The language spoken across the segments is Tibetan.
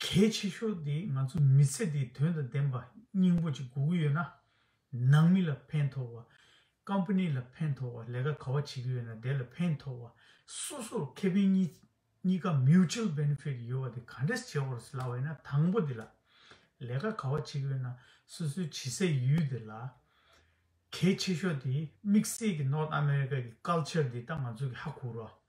གལ་ཆེ་ཤོས་དེ་ང་ཚོ་མི་ཚེ་འདི་དོན་དང་ལྡན་པ་སྙིང་པོ་གཅིག་སྒུག་གི་ཡོད་ན། ནང་མི་ལ་ཕན་ཐོགས་བ། Company ལ་ཕན་ཐོགས་བ་ལས་ཀ་ག་བ་བྱེད་ཀྱི་ཡོད་ན་དེ་ལ་ཕན་ཐོགས་བ། སོ་སོར་ཁེ་ཕན་གཉིས་གཉིས་ཀ Mutual Benefit ཡོད་པ་དེ་ག་འདྲས་བྱེད་བར་སླ་བ་ཡིན་ན་དང་པོ་དེ་ལ། ལས་ཀ་ག་བ་བྱེད་ཀྱི་ཡོད་ན་སོ་སོའི་བྱེད་སའི་ཡུལ་དེ་ལ། གལ་ཆེ་ཤོས་དེ་དམིགས་བསལ་གྱི North America གྱི Culture དེ་ད་ང་ཚོ་གི་ཧ་གོ་རོགས།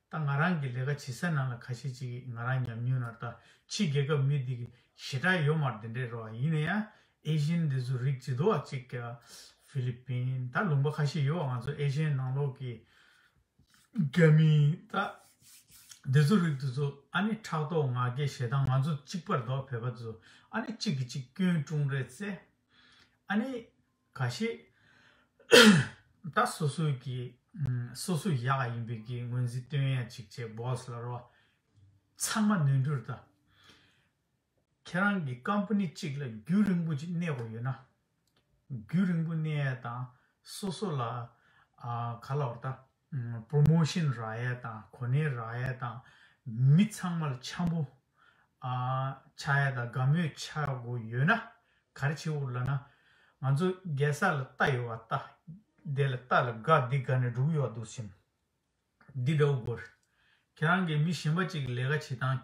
ད་ང་རང་གི་ལས་ཀ་བྱེད་སའི་ནང་ལ་ཁ་ཤས་ཅིག་ང་རང་ཉམས་མྱོང་ནར་ད་ཕྱི་རྒྱལ་ཁབ་མི་འདི་གི་ཞེ་དྲག་ཡོད་མར་འདི་འདྲའི་རོ་ཡིན་ན་ཡང་ཨེ་ཤེན་འདི་ཚོ་རིགས་ཇི་དོ་བ་ཅིག་ག་ཕི་ལི་པིན་ད་ལུང་པ་ཁ་ཤས་ཡོད་བ་ང་ཚོ་ཨེ་ཤེན་ནང་ལོག་གི་རྒྱ་མི་ད་འདི་ཚོ་རིགས་དེ་ཚོ་ཨ་ནི་ཕྲག་དོག་ང་རྒྱལ་ཞེ་སྡང་ང་ཚོ་གཅིག་པར་དོག་བོད་པ་དེ་ཚོ་ཨ་ནི་གཅིག་གི་གཅིག་སྐྱོན་ཀྲུང་རེད་ཚེ་ཨ་ནི་ག་ཤེད། ད་སོ་སོའི་གི། སོ་སོའི་ཡག་ཡིན་པའི་གི་ངོས་འཛིན་སྟོན་ཡ་ཅིག་བྱེད boss ལ་རོ། ཚང་མ་ནོན་འགྲུར་དང། ཁྱེད་རང་གི company གཅིག་ལ་རྒྱུན་རིང་པོ་ཅིག་གནས་དགོས་ཡོད་ན། རྒྱུན་རིང་པོ་གནས་ཡ་དང་སོ་སོ་ལ། ག་ལ་བར་ད། Promotion Riot དང་གོ་གནས Riot དང་མི་ཚང་མ་ལ་འཆམ་པོ་ཆགས་ཡ་དང་དགའ་མོས་ཆགས་དགོས་ཡོད་ན་ག་རེ་བྱེད་འུ་ལ་ན་ང་ཚོ་རྒྱལ་ས་ལ་ལྟ་ཡོད་བ་ལྟ་བདེ་ལ་ལྟ་ལ་དགའ་བདེ་དགའ་ནས་འགྲུག་ཡོད་བ་འདུག་སེམས་འདི་འདྲ་བོ་དགོས་རེད་ཁྱེད་རང་གིས་མི་གཞན་པ་གཅིག་ལས་ཀ་བྱེད་སྟངས།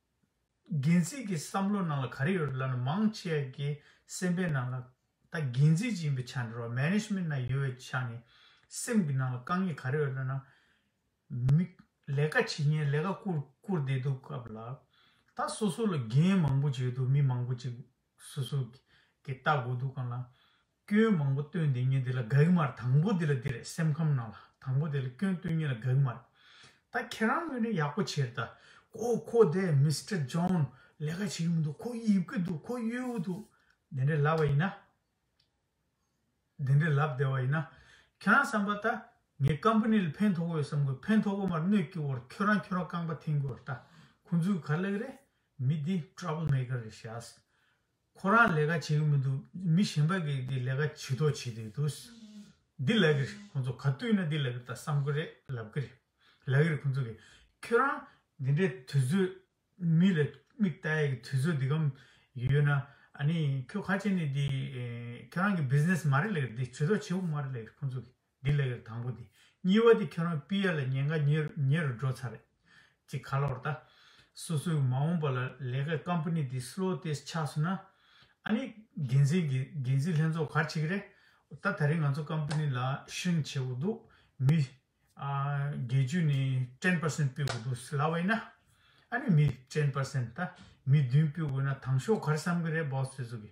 འགན་འཛིན་གྱི་བསམ་བློ་ནང་ལ་ག་རེ་ཡོད་ལབ་ན་མང་ཆེ་བ་གི་སེམས་པའི་ནང་ལ་ད་འགན་འཛིན་གྱི་ཡིན་པའི་ཆ་ནས་རོགས Management ནང་ཡོད་བའི་ཆ་ནས་སེམས་ཀྱི་ནང་ལ་དཀའ་ངལ་ག་རེ་ཡོད་ལབ་ན། མི་ལས་ཀ་བྱེད་མཁན་ལས་ཀ་བསྐུར་བསྐུར་བསྡད་འདུག་སྐབས་ལ་ད་སོ་སོ་ལ་འགན་མང་པོ་བྱས་འདུག་མི་མང་པོ་ཅིག་སོ་སོ་གི་ལྟ་དགོས་འདུག་སྐབས་ལ་སྐྱོན་མང་པོ་སྟོན་འདི་ཉིད་འདི་ལ་དགའ་གི་མ་རེད་དང་པོ་འདི་ལ་འདི་རེད་སེམས་ཁམས་ནང་ལ་དང་པོ་འདི་ལ་སྐྱོན་སྟོན་ཉིད་ལ་དགའ་གི་མ་རེད་ད་ཁྱེད་རང་ངོས་ནས་ཡག་པོ་བྱེད་ད་ཁོ་ཁོ་དེ Mister John ལས་ཀ་བྱེད་ཀྱི་མི་འདུག་ཁོ་ཡིབ་ཀྱི་འདུག་ཁོ་གཡོལ་གྱི་འདུག་དེ་འདྲས་ལབ་བ་ཡིན་ན་དེ་འདྲས་ལབ་བསྡད་བ་ཡིན་ན་ཁྱེད་རང་བསམ་པ་ད་ངའི Company ལ་ཕན་ཐོགས་པོ་ཡོད་བསམ་གོ་ཕན་ཐོགས་པོ་མ་རེད་གནོད་སྐྱིལ་བོར་ཁྱོད་རང་ཁྱོད་རང་རྐང་པ་འཐེན་གྱི་བར་ད་ཁོང་ཚོའི་ག་ལེགས་རེད་མི་འདི Trouble Maker རེད་ཤཱས་ཁོ་རང་ལས་ཀ་བྱེད་ཀྱི་མི་འདུག་མི་གཞན་པ་གིས་ཀྱི་ལས་ཀ་ཇི་ལྟོ་བྱེད་དེ་འདུག་འདི་ལབ་ཀྱི་རེད་ཁོང་ཚོ་ག་དུས་ན་འདི་ལབ་ཀྱི་ད་བསམ་གི་རེད་ལབ་ཀྱི་རེད་ལབ་ཀྱི་རེད་ཁོང་ཚོ་གིས་ཁྱོད་རང་འདི་འདྲའི་དུས་ཚོད་མི་ལ་མིག་ལྟ་ཡ་གི་དུས་ཚོད་འདི་གམ་ཡོད་ན་ཨ་ནི་ཁྱོད་ཁ་ཆེ་ནས་འདི་ཁྱོད་རང་གི་བིས་ནེས་མ་རེད་ལབ་ཀྱི་རེད་འདི་ཇི་ལྟོ་བྱེད་ཁུངས་མ་རེད་ལབ་ཀྱི་རེད་ཁོང་ཚོ་གིས། འདི་ལས་ཀྱང་དང་པོ་དེ་གཉིས་བ་དེ་ཁྱོད་རང་པི་ཡ་ལ་ཉེན་ཁ་ཉེ་རུ་འགྲོ་ཚར་རེད། ཅིག་ག་ལ་བར་ད། སོ་སོའི་མ་འོངས་པ་ལ་ལས་ཀའི་ཀམ་པ་ནི་དེ་སློ་ཏེས་ཆགས་སོང་ན། ཨ་ནི། འགན་འཛིན་གྱི་འགན་འཛིན་ལྷན་ཚོགས་གར་ཆིག་རེད། ད་ད་རིང་ང་ཚོ་ཀམ་པ་ནི་ལ་ཧྲིང་ཆེ་བོ་འདུག་མི། ཨ། བརྒྱད་ཅུ་ནི་ཏྲེན་པར་སེན་སྤུད་དགོས་འདུག་ལ་བས་ན། ཨ་ནི་མི་ཏྲེན་པར་སེན་ད་མི་བདུན་སྤུད་དགོས་ན་དང་ཤོག་གར་བསམ་གི་རེད་བའོ་ཟེར་ཟུ་གི།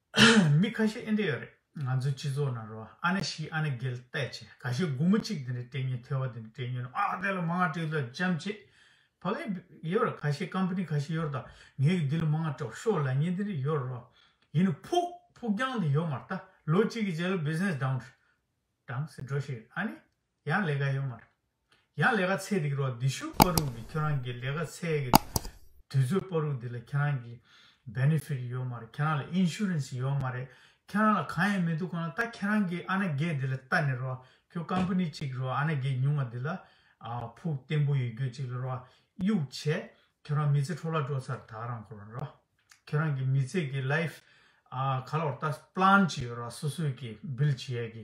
མི་ཁ་ཤས་ཨེ་འདྲེ་ཡོད་རེད་ང་ཚོའི་སྤྱི་ཚོགས་ནང་རོ་ཨ་ནེ་ཤི་ཨ་ནེ་རྒྱལ་བལྟས་བྱས་ག་ཤེད་དགུང་མོ་གཅིག་དེ་འདྲའི་དྲེ་ཉེ་ཐེ་བ་དེ་འདྲའི་དྲེ་ཉེ་ནོ་ཨ་དེ་ལ་མ་ང་དྲེ་ལ་ཅམ་ཆེ་བ་ག་ཡོད་ར་ག་ཤེད་ཀམཔ་ནི་ག་ཤེད་ཡོད་ར་ད་ངས་གི་དེ་ལ་མ་ང་དྲོ་ཤོ་ལ་ཉེ་དེ་འདྲའི་ཡོད་ར་ཡིན་ནོ་ཕུག་ཕུག་རྒྱང་དེ་ཡོད་མ་ར་ད་ལོ་གཅིག་གི་རྗེས་ལ་བིས་ནེས་དང་དྲང་སེ་འགྲོ་ཤེས་ཨ་ནེ། ཡང་ལས་ཀ་ཡོད་མ་རེད། ཡང་ལས་ཀ་ཚད་རིག་རོགས་འདི་ཤུག་པ་རུག་གི་ཁྱོད་རང་གི་ལས་ཀ་ཚད་གི་དུས་ཚོད་པ་རུག་འདི་ལ་ཁྱེད་རང་གི Benefit ཡོད་མ་རེད་ཁྱེད་རང་ལ Insurance ཡོད་མ་རེད་ཁྱེད་རང་ལ་གང་ཡང་མི་འདུག་གང་ལ་ད་ཁྱེད་རང་གི་ཨ་ན་རྒས་འདི་ལ་ལྟ་ནས་རོགས་ཁྱོད Company གཅིག་རོགས་ཨ་ན་རྒས་ཉུང་བ་འདི་ལ་ཕུག་བརྟན་པོ་ཡོད་རྒྱུ་གཅིག་ལ་རོགས་གཡུག་བྱས་ཁྱོད་རང་མི་ཚེ་འཕྲོ་བརླག་འགྲོ་ཚར་ད་རང་ཁོ་རང་རོགས་ཁྱེད་རང་གི་མི་ཚེ་གི Life ག་ལ་བར་ལྟ Plan ཅི་ཡོད་རོགས་སོ་སོས་གི Build བྱེད་ཡས་གི་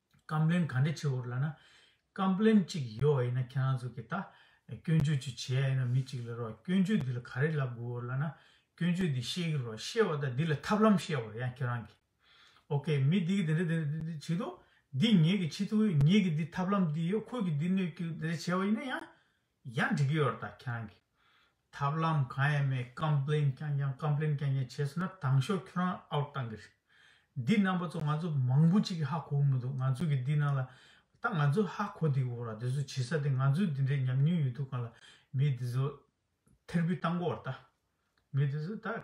ཀམཔླེན་ག་འདྲེ་ཆེ་བོར་ལ་ན། ཀམཔླེན་གཅིག་ཡོད་བ་ཡིན་ན་ཁྱེད་རང་ཚོ་གིས་ད། སྐྱོན་བརྗོད་ཅིག་བྱེད་ཡ་ཡིན་ན་མི་གཅིག་ལ་རོགས་སྐྱོན་བརྗོད་འདི་ལ་ག་རེ་ལབ་དགོས་བོར་ལ་ན། སྐྱོན་བརྗོད་འདི་ཤེས་ཀྱི་རོགས་ཤེས་བ་དང་འདི་ལ་ཐབས་ལམ་བཤད་བོར་ཡང་ཁྱེད་རང་གིས། ok མི་འདི་གིས་འདི་འདྲ་འདི་འདྲ་འདི་འདྲ་བྱེད་དོ། འདི་ངེད་ཀྱིས་ཕྱི་ཐུག་ངེད་ཀྱིས་འདི་ཐབས་ལམ་འདི་ཡོད་ཁོས་ཀྱིས་འདི་གནོད་ཀྱི་འདི་འདྲ་བྱས་བ་ཡིན་ན་ཡང། ཡང་འགྲིག་ཡོད་ད་ཁྱེད་རང་གིས། ཐབས་ལམ་གང་ཡང་མེད་ཀམ་པླེན་རྐྱང་རྐྱང་ཀམ་པླེན་རྐྱང་རྐྱང་བྱས་སོང་ན་དྭངས་ཤོག་ཁྱོད་རང out གཏང་གི་རེད། འདི་རྣམ་པ་ཚོ་ང་ཚོ་མང་པོ་གཅིག་གི་ཧ་གོ་གི་མི་འདུག་ང་ཚོ་གི་འདི་ནང་ལ་ད་ང་ཚོ་ཧ་གོ་དེ་གི་འོག་ལ་དེ་ཚོ་བྱེད་ས་དེ་ང་ཚོ་དེ་འདྲའི་ཉམས་མྱོང་ཡོད་དུས་གང་ལ་མི་དེ་ཚོ་ཐེར་འབུད་གཏང་གོ་ད། མི་དེ་ཚོ་ད།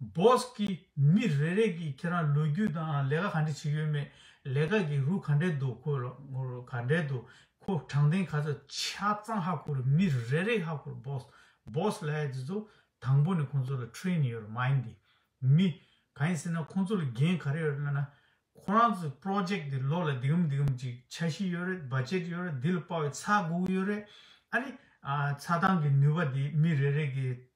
Boss། ཀྱིས་མི་རེ་རེས་ཀྱིས་ཁྱེད་རང་ལོ་རྒྱུས་དང་ལས་ཀ་ག་འདྲི་བྱེད་ཡོད་མེད་ལས་ཀ་གི་རུ་ག་འདྲེ་འདུག་ཁོ་ལ་ངོ་རུ་ག་འདྲེ་འདུག་ཁོ་དྲང་བདེན་ག་ཚོད་ཆ་ཚང་ཧ་གོ་རུ་མི་རེ་རེས་ཧ་གོ་རུ Boss། Boss། ལ་ཡ་དེ་ཚོ་དང་པོ་ནས་ཁོང་ཚོ་ལ Train ཡོད་རུ་མ་ཡིན་ཏེ། མི། ག་ཡིན་ཟེར་ན་ཁོང་ཚོ་ལ་འགན་ག་རེ་ཡོད་རུ་སྨྲས་ན། ཁོ་རང་ཚོ Project དེ་ལོ་ལ་འདི་གམ་འདི་གམ་ཅིག་ཆ་བཞི་ཡོད་རེད Budget ཡོད་རེད་དེ་ལ་དཔའ་བའི་ཚགས་དགུ་ཡོད་རེད་ཨ་རེ། ཚགས་སྟངས་ཀྱི་ནུས་པ་དེ་མི་རེ་རེ་གིས་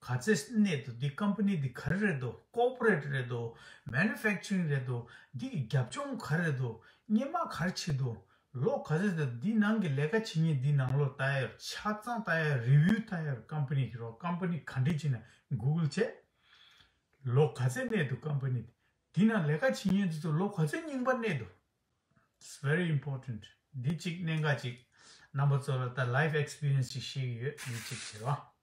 ག་ཚད་གནས་འདུག་འདི Company འདི་ག་རེ་རེད་འདུག Corporate རེད་འདུག Manufacturing རེད་འདུག་འདི་གི་རྒྱབ་ལྗོངས་ག་རེ་རེད་འདུག་སྙེ་མ་ག་རེ་ཕྱིས་འདུག་ལོ་ག་ཚོད་ཟིན་འདུག་འདི་ནང་གི་ལས་ཀ་བྱེད་ཉིན་འདི་ནང་ལོ་ལྟ་ཡོད་ཆ་ཚང་ལྟ་ཡོད Review ལྟ་ཡོད Company གི་རོགས Company ག་འདྲས་བྱས་ན Google བྱས་ལོ་ག་ཚད་གནས་འདུག Company འདི་ནང་ལས་ཀ་བྱེད་ཉིན་དེ་ཚོ་ལོ་ག་ཚོད་རྙིང་པ་གནས་འདུག It's very important འདི་གཅིག་གནད་འགག་ཅིག་རྣམ་པ་ཚོ་ལ་ད Life Experience ཅིག་བཤད་ཀྱི་ཡོད་འདི་གཅིག་བྱས་པ།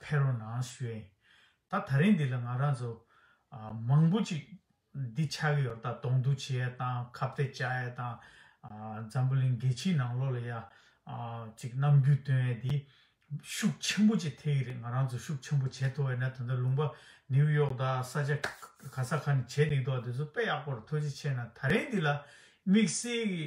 ཕེ་རོ་ན་སུའེ། ད་ད་རིང་འདི་ལ་ང་རང་ཚོ། མང་པོ་ཅིག། འདི་ཆགས་ཀྱི་ཡོད་ད་དོང་འདུ་བྱེད་ཡས་དང་ཁ་བརྡའི་བྱ་ཡས་དང། འཛམ་བུ་གླིང་རྒྱལ་ཕྱིའི་ནང་ལོགས་ལ་ཡ། ཅིག་རྣམ་འགྱུར་སྟོན་ཡས་དེ། ཤུགས་ཆེན་པོ་ཅིག་ཐེག་གི་རེད་ང་རང་ཚོ་ཤུགས་ཆེན་པོ་བྱེད་ཐུབ་བས་ན་ད་ལྟ་ལུང་པ། ནིའུ་ཡོག་ད་ས་ཆ། ག་ས་ག་ནས་བྱེད་འདུག་ད་དེ་ཚོ་དཔེ་ཡག་པོར་ཐུགས་རྗེ་ཆེ་ན་ད་རིང་འདི་ལ། དམིགས་བསལ་གྱི།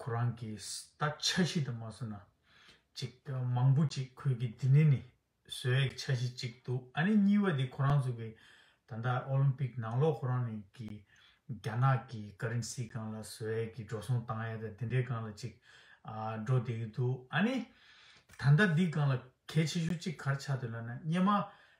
ཁོ་རང་གིས་ད་ཆ་གཞི་དུ་མ་སོང་ན། ཅིག་མང་པོ་ཅིག་ཁོས་ཀྱི་འདི་ནི་ནི་བཟོས་ཡག་ཆ་ཞིག་ཅིག་འདུག་ཨ་ནི་གཉིས་པ་དེ་ཁོ་རང་ཚོ་གི་ད་ལྟ་ཨོ་ལིམ་པིག་ནང་ལོག་ཁོ་རང་ནི་གི་རྒྱ་ནག་གི་ཀ་རིན་སི་གང་ལ་བཟོས་ཡག་གི་འགྲོ་སོང་བཏང་ཡག་དང་དེ་འདྲའི་གང་ལ་ཅིག་འགྲོ་བསྡད་ཀྱི་འདུག་ཨ་ནི་ད་ལྟ་འདི་གང་ལ་གལ་ཆེ་ཤོས་ཅིག་གར་ཆགས་འདོད་ལ་ན་སྙེ་མ་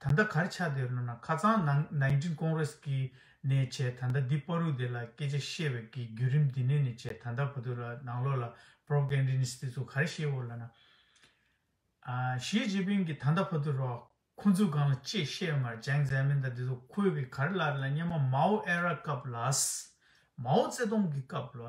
ད་ལྟ་གར་ཆགས་དེ་རུ་ན་ཁ་ཚང་ནང་ནའི་འབྲིང་ཀོང་རེ་སི་གིས་ནས་བྱས་ད་ལྟ་འདི་དཔའ་རུ་དེ་ལ་སྐད་ཆ་བཤད་བའི་གི་རྒྱུད་རིམ་འདི་ནས་ནས་བྱས་ད་ལྟ་བུ་དུ་ལ་ནང་ལོག་ལ Propagandinist ཚོ་གར་བཤད་བོ་ལ་ན། ཞིས་ཅིན་ཕིན་གིས་ད་ལྟ་བུ་དུ་རོགས་ཁོ་ཚོས་གང་ལ་ཅེས་བཤད་མར་ཇཱེང་ཛའེ་མིན་ད་དེ་ཚོ་ཁོའི་གི་གར་ལར་ལ་སྙེ་མ་མའོ་ཨེ་ར་སྐབས་ལ། མའོ་ཙེ་ཏོང་གི་སྐབས་ལ།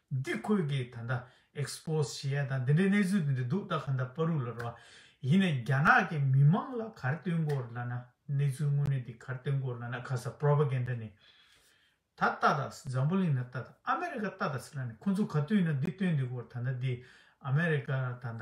འདི་ཁོས་ཀྱི་ད་ལྟ Expose བྱེད་ཡ་དང་འདི་འདྲའི་གནས་ཚུལ་འདི་འདྲ་འདུག་ད་ག་འདྲ་པ་རུ་ལ་རོ། ཡིན་ནས་རྒྱ་ནག་གི་མི་མང་ལ་གར་སྟོན་སྐོར་ལ་ན་གནས་ཚུལ་དངོས་གནས་འདི་གར་སྟོན་སྐོར་ལ་ན་ག་ས Propaganda ནི། ད་ལྟ་ད་འཛམ་བུ་གླིང་ན་ད་ད་ཨ་མེ་རི་ཀ་ད་ད་སི་ལ་ནི་ཁོ་ཚོ་ག་དུས་ན་འདི་སྟོན་འདི་སྐོར་ད་ད་འདི་ཨ་མེ་རི་ཀ་ད་ད།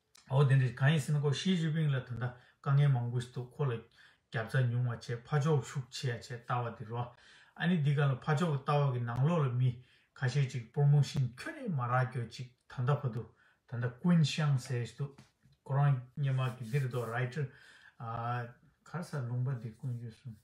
འོ་དེ་འདྲས་གང་ཡིན་ཟེར་ན་ཁོ་ཞི་ཅིན་ཕིན་ལ་ད་ལྟ་དཀའ་ངལ་མང་པོ་ཞིག་འདུག་ཁོ་ལ་རྒྱབ་རྩ་ཉུང་བ་བྱས་ཕ་ཕྱོགས་ཤུགས་ཆེ་ཡ་བྱས་ལྟ་བ་དེ་རོ། ཨ་ནི་འདི་ག་ལ་ཕ་ཕྱོགས་ཀྱི་ལྟ་བ་གི་ནང་ལོགས་ལ་མི་ཁ་ཤས་ཅིག་སྤོར་མོ་བཞིན་ཁྱོད་ནི་མ་རག་གྱོ་ཅིག་ད་ལྟ་ཕ་དུ་ད་ལྟ་ཀུན་ཤང་ཟེར་བཞིན་འདུག་ཁོ་རང་སྙེ་མ་གི་འདིར་དོ་ར་ཨི་ཁྲི་ཨ། གར་ས་ལུང་པ་འདི་ཀུན་ཡོད་གསུངས།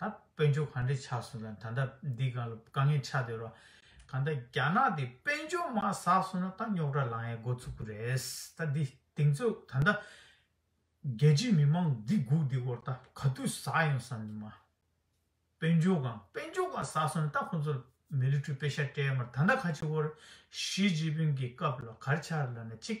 ད་དཔོན་ཆོས་ག་འདྲས་ཆགས་སོང་ད་ད་འདི་ག་ལ་དཀའ་ངལ་ཆགས་སྡོད་རོགས་ག་ད་རྒྱ་ནག་དེ་དཔོན་ཆོས་མ་ཟགས་སོང་ན་ད་རྙོག་དྲ་ལངས་ཡས་འགོ་ཚུགས་ཀི་རེད་ད་འདི་དེང་ཚོ་ད་ད་རྒྱལ་སྤྱི་མི་མང་འདི་སྒུག་འདི་སྐོར་ད་ག་དུས་ཟགས་ཡོང་བསམ་གི་མ་དཔོན་ཆོས་གང་དཔོན་ཆོས་ག་ཟགས་སོང་ན་ད་ཁོང་ཚོ་ལ་མི་ལི་ཁྲུ་དཔེ་ཤ་སྤྲད་མར་ད་ད་ཁ་ཆེ་བོར་ཞི་ཅིན་ཕིན་གི་སྐབས་ལ་གར་ཆགས་ར་ན་གཅིག་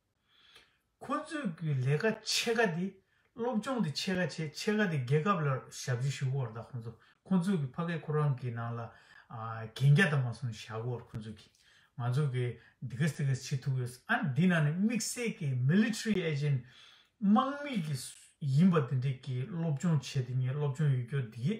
ཁོ་ཚོས་ཀྱི་ལས་ཀ་ཕྱེད་ཀ་དེ་སློབ་སྦྱོང་དེ་ཕྱེད་ཀ་བྱས་ཕྱེད་ཀ་དེ་རྒྱལ་ཁབ་ལ་ཞབས་ཕྱི་ཞུ་བར་དང་ཁོ་ཚོ་ཁོ་ཚོས་ཀྱི་ཕ་གི་ཁོ་རང་གི་ནང་ལ་གན་རྒྱ་དང་མ་སོང་བཞག་བར་ཁོ་ཚོས་ཀྱི་ང་ཚོ་ཀྱི་འདི་གེས་དེ་གེས་བྱེད་ཐུབ་ཡོད་ས་ཨ་འདི་ནང་ནས་དམིགས་བསལ་གྱི Military Agent དམག་མི་གྱི་ཡིན་པ་དེ་འདྲས་ཀྱི་སློབ་སྦྱོང་བྱས་དེ་ངའི་སློབ་སྦྱོང་ཡོད་རྒྱུ་དེ་གེས་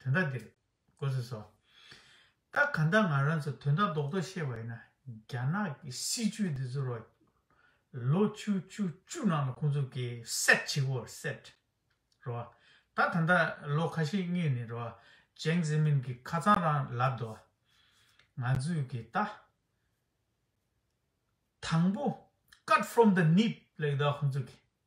དོན་དག་འདིར་གོ་ཟེར་སོ། རྟགས་གང་དག་ང་རང་ཚོ་དོན་དག་རྡོག་རྡོག་ཤེས་པ་ཡིན་ན་རྒྱ་ནག་གི་སྲིད་བྱུས་འདི་ཚོ་རོ། ལོ་བཅུ་བཅུ་བཅུ་ནང་ལ་ཁོང་ཚོ་གི་སེད་བྱེད་གོ་སེད། རོ། ད་ད་ལྟ་ལོ་ཁ་ཤས་སྔས་ནས་རོ། ཅེང་ཟི་མིན་གི་ཁ་ཚང་རང་ལབ་དོ། ང་ཚོས་གི་ད། དང་པོ་ཀར་ཕྷོམ་དང་ནིབ་ལེགས་དག་ཁོང་ཚོ་གི།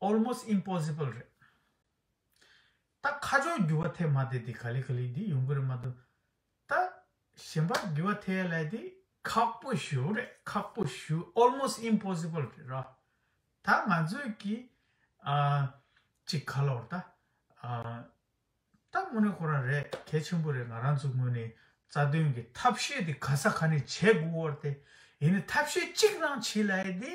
almost impossible རེད། ད་ཁ་ཕྱོགས་འགྱུར་བ་ཐེབས་མ་བསྡད་དེ་ག་ལི་ག་ལི་འདི་ཡོང་གི་རེད་མ་གཏོགས། ད་གཞན་པ་འགྱུར་བ་ཐེབས་ཡ་ལས་དེ། ཁག་པོ་ཞུ་རེད་ཁག་པོ་ཞུ almost impossible རེད་རོ། ད་ང་ཚོས་ཀྱི་ཨ། ཅིག་ག་ལོར་ད། ད་དངོས་གནས་ཁོ་རང་རེད་གལ་ཆེན་པོ་རེད་ང་རང་ཚོ་དངོས་གནས་རྩ་དོན་གྱི་ཐབས་ཤེས་དེ་ག་ས་ག་ནས་བྱེད་དགོས་བར་དེ། ཡིན་ནའི་ཐབས་ཤེས་གཅིག་རང་བྱེད་ལ་ཡི་དེ།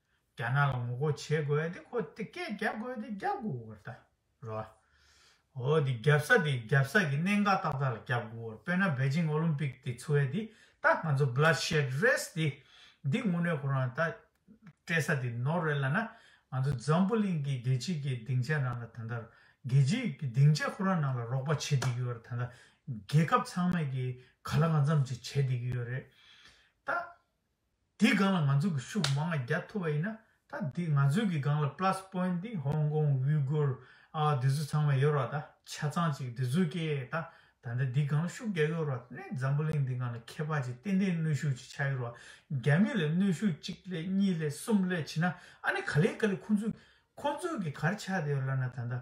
རྒྱ་ནག་ལ་ངོ་རྒོལ་བྱེད་དགོས་དེ་ཁོ་དེ་སྐད་རྒྱག་དགོས་དེ་རྒྱག་དགོས་བོར་བལྟ་རོགས། ཨོ་དེ་རྒྱབ་ས་དེ་རྒྱབ་ས་གི་གནད་འགག་ཏག་ཏག་ལ་རྒྱབ་དགོས་བོར་དཔེར་ན་བེ་ཅིང་ཨོ་ལིམ་པིག་དེ་ཚུ་བས་དེ་ད་ང་ཚོ Blood Shed Race དེ་འདི་དངོས་གནས་ཁོ་རང་ད་སྤྲད་ས་དེ་ནོར་རེད་ལ་ན་ང་ཚོ་འཛམ་བུ་གླིང་གི་རྒྱལ་སྤྱི་གི་སྡིངས་ཆའི་ནང་ལ་ད་ལྟ་རྒྱལ་སྤྱི་གི་སྡིངས་ཆ་ཁོ་རང་ནང་ལ་རོགས་པ་བྱེད་བསྡད་ཀྱི་ཡོད་རེད་ད་ལྟ་རྒྱལ་ཁབ་ཚང་མས་གི་ག་ལ་གང་འཚམ་ཅིག་བྱེད་བསྡད་ཀྱི་ཡོད་རེད་ད། དེའི་སྒང་ལ་ང་ཚོ་གི་ཤུགས་མང་ང་རྒྱ་ཐུབ་པ་ཡིན་ན་ད་དེ་ང་ཚོའི་གི་སྒང་ལ plus point དེ་ཧོང་ཀོང་དབྱུས་གུར་ཨ་དེ་ཚོ་ཚང་མ་ཡོད་རོགས་ད་ཆ་ཚང་ཅིག་དེ་ཚོའི་སྐད་ད་ད་ད་དེའི་སྒང་ལ་ཤུགས་རྒྱ་ཡོད་རོགས་ད་ནས་འཛམ་བུ་གླིང་དེའི་སྒང་ལ་ཁྱད་འཕགས་ཅིག་ཏན་ཏན་གནོད་ཤུགས་ཅིག་ཆགས་ཡོད་རོགས་རྒྱ་མི་ལ་གནོད་ཤུགས་གཅིག་ལས་གཉིས་ལས་གསུམ་ལས་བྱིན་ན་ཨ་ནི་ག་ལས་ག་ལས་ཁོང་ཚོས་ཁོང་ཚོས་གི་གར་ཆགས་དེ་ཡོད་ལབ་ན་ད་ད།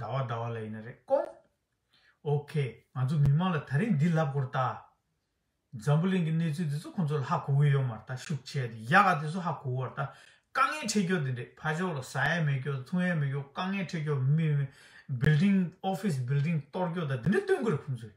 ཟླ་བ་ཟླ་བ་ལ་ཡིན་ན་རེད་སྐོང། OK ང་ཚོ་མི་མང་ལ་ད་རིང་འདི་ལབ་དགོར་ལྟ། འཛམ་བུ་གླིང་གི་གནས་ཚུལ་དེ་ཚོ་ཁོང་ཚོ་ལ་ཧ་གོ་གི་ཡོད་མ་རེད་ད་ཤུགས་ཆེ་དེ་ཡག་ག་དེ་ཚོ་ཧ་གོ་གི་རེད་ད། དཀའ་ངལ་འཕྲད་སྐྱོ་དེ་འདྲས་ཕ་ཕྱོགས་ལ་ཟ་ཡ་མེད་སྐྱོ་འཐུང་ཡ་མེད་སྐྱོ་དཀའ་ངལ་འཕྲད་སྐྱོ་མི། Building Office Building གཏོར་སྐྱོ་ད་དེ་འདྲས་སྟོན་གི་རེད་ཁོང་ཚོས།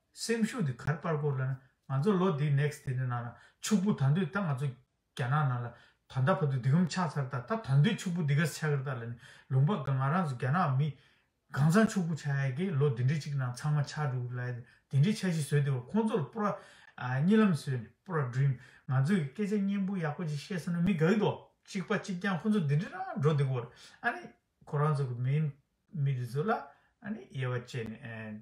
སེམས་ཤུགས་དེ་གར་སྤར་དགོས་ལ་ན་ང་ཚོ་ལོ་འདིའི next དེ་ནི་ནང་ན་ཕྱུག་པོ་ད་འདོད་ད་ང་ཚོ་རྒྱ་ནག་ནང་ལ་ད་ལྟ་བར་དུ་འདི་གམ་ཆགས་ཚར་ད་ད་ད་འདོད་ཕྱུག་པོ་འདི་ག་ཆགས་ཀྱི་ད་ལ་ནི་ལུང་པ་གང་ང་རང་ཚོ་རྒྱ་ནག་མི་གང་ཚང་ཕྱུག་པོ་ཆགས་ཡ་གི་ལོ་འདི་འདྲི་གཅིག་ནང་ཚང་མ་ཆགས་འགྲོ་གི་ལ་ཡ་དེ་འདྲི་ཆགས་ཤིག་བཟོས་དེ་བ་ཁོང་ཚོ་ལ་པུར་རྙི་ལམ་བཟོས་ནས་པུར་རྒྲུན་ང་ཚོ་གི་སྐད་ཆ་སྙན་པོ་ཡག་པོ་ཅིག་བཤད་སོང་ན་མི་དགའ་གི་དོ་གཅིག་པ་གཅིག་རྐྱང་ཁོང་ཚོ་འདི་འདྲི་རང་འགྲོ་འདི་གོ་ར་ཨ་ནི་ཁོ་རང་ཚོ་གི་མིན་མི་འདི་ཚོ་ལ་ཨ་ནི་དབྱེ་བ་བཅད་ནས།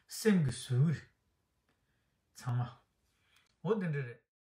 སེམས་ཀྱི་ཟུར་དབུས། ཚང་མ། འོ་དེ་འདྲ་རེད།